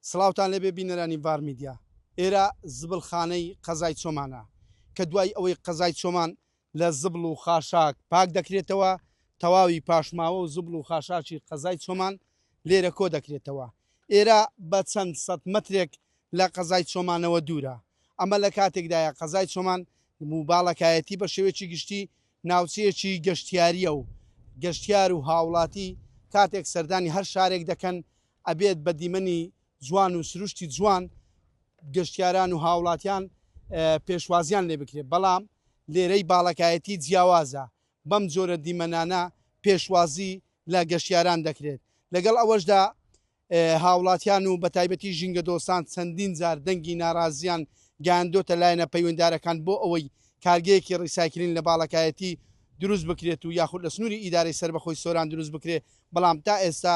سڵاوتان لێبێ بینەرانی ڤار میدیا. ئێرە زبڵخانەی قەزای چۆمانە کە دوای ئەوەی قەزای چۆمان لە زبڵ و خاشاک پاک دەکرێتەوە، تەواوی پاشماوە و زبڵ و خاشاکی قەزای چۆمان لێرە کۆ دەکرێتەوە. ئێرە بە چەند سەد مەترێک لە قەزای چۆمانەوە دوورە. ئەمە لە کاتێکدایە قەزای چۆمان و باڵەکایەتی بە شێوەیەکی گشتی ناوچەیەکی گەشتیارییە و گەشتیار و هاوڵاتی کاتێک سەردانی هەر شارێک دەکەن ئەبێت بە دیمەنی جوان و سروشتی جوان گەشتیاران و هاوڵاتیان پێشوازیان لێ بکرێت بەڵام لێرەی باڵەکایەتی جیاوازە بەم جۆرە دیمەنانە پێشوازی لە گەشتیاران دەکرێت لەگەڵ ئەوەشدا هاوڵاتیان و بە تایبەتی ژینگە دۆستان چەندین جار دەنگی ناڕازیان گەاندۆتە لایەنە پەیوەندارەکان بۆ ئەوەی کارگەیەکی ڕیساکرین لە باڵەکایەتی دروست بکرێت و یاخود لە سنووری ئیدارەی سەربەخۆی سۆران دروست بکرێت بەڵام تا ئێستا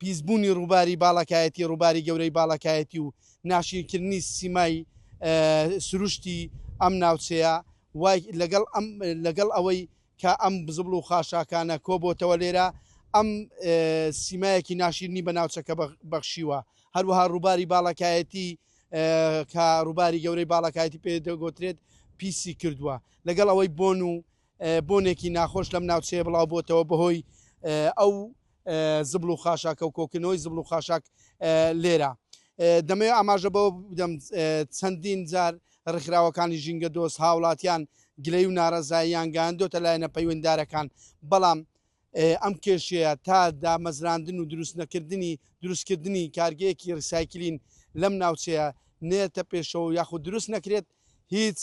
پیسبوونی ڕووباری باڵەکایەتی، ڕووباری گەورەی باڵەکایەتی و ناشیرکردنی سیمای سروشتی ئەم ناوچەیە وای لەگەڵ ئەم لەگەڵ ئەوەی کە ئەم بزبڵ و خاشاکانە کۆبۆتەوە لێرە ئەم سیمایەکی ناشیرنی بە ناوچەکە بەخشیوە هەروەها ڕووباری باڵەکایەتی کە ڕووباری گەورەی باڵەکایەتی پێ دەگۆترێت پیسی کردووە لەگەڵ ئەوەی بۆن و بۆنێکی ناخۆش لەم ناوچەیە بڵاوبۆتەوە بەهۆی ئەو زبڵ و خاشاکە و کۆکردنەوەی زبڵ و خاشاک لێرە. دەمەوێت ئاماژە بەوە بدەم چەندین جار ڕێکخراوەکانی ژینگە دۆست هاوڵاتیان گلەی و نارەزاییان گەیاندۆتە لایەنە پەیوەنددارەکان بەڵام ئەم کێشەیە تا دامەزراندن و دروستنەکردنی دروستکردنی کارگەیەکی ڕیسایکلین لەم ناوچەیە نێتە پێشەوە یاخود دروست نەکرێت هیچ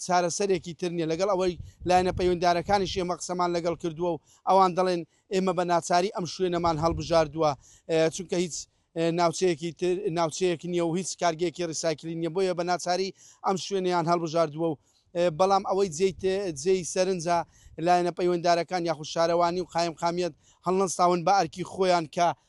چارەسەرێکی تر نییە، لەگەڵ ئەوەی لایەنە پەیوەندیدارەکانیش ئێمە قسەمان لەگەڵ کردووە و ئەوان دەڵێن ئێمە بە ناچاری ئەم شوێنەمان هەڵبژاردووە، چونکە هیچ ناوچەیەکی تر ناوچەیەک نییە و هیچ کارگەیەکی ڕیسایکلین نییە، بۆیە بە ناچاری ئەم شوێنەیان هەڵبژاردووە و بەڵام ئەوەی جێی سەرنجە لایەنە پەیوەندیدارەکان یاخود شارەوانی و قایمقامیەت هەڵنەستاون بە ئەرکی خۆیان کە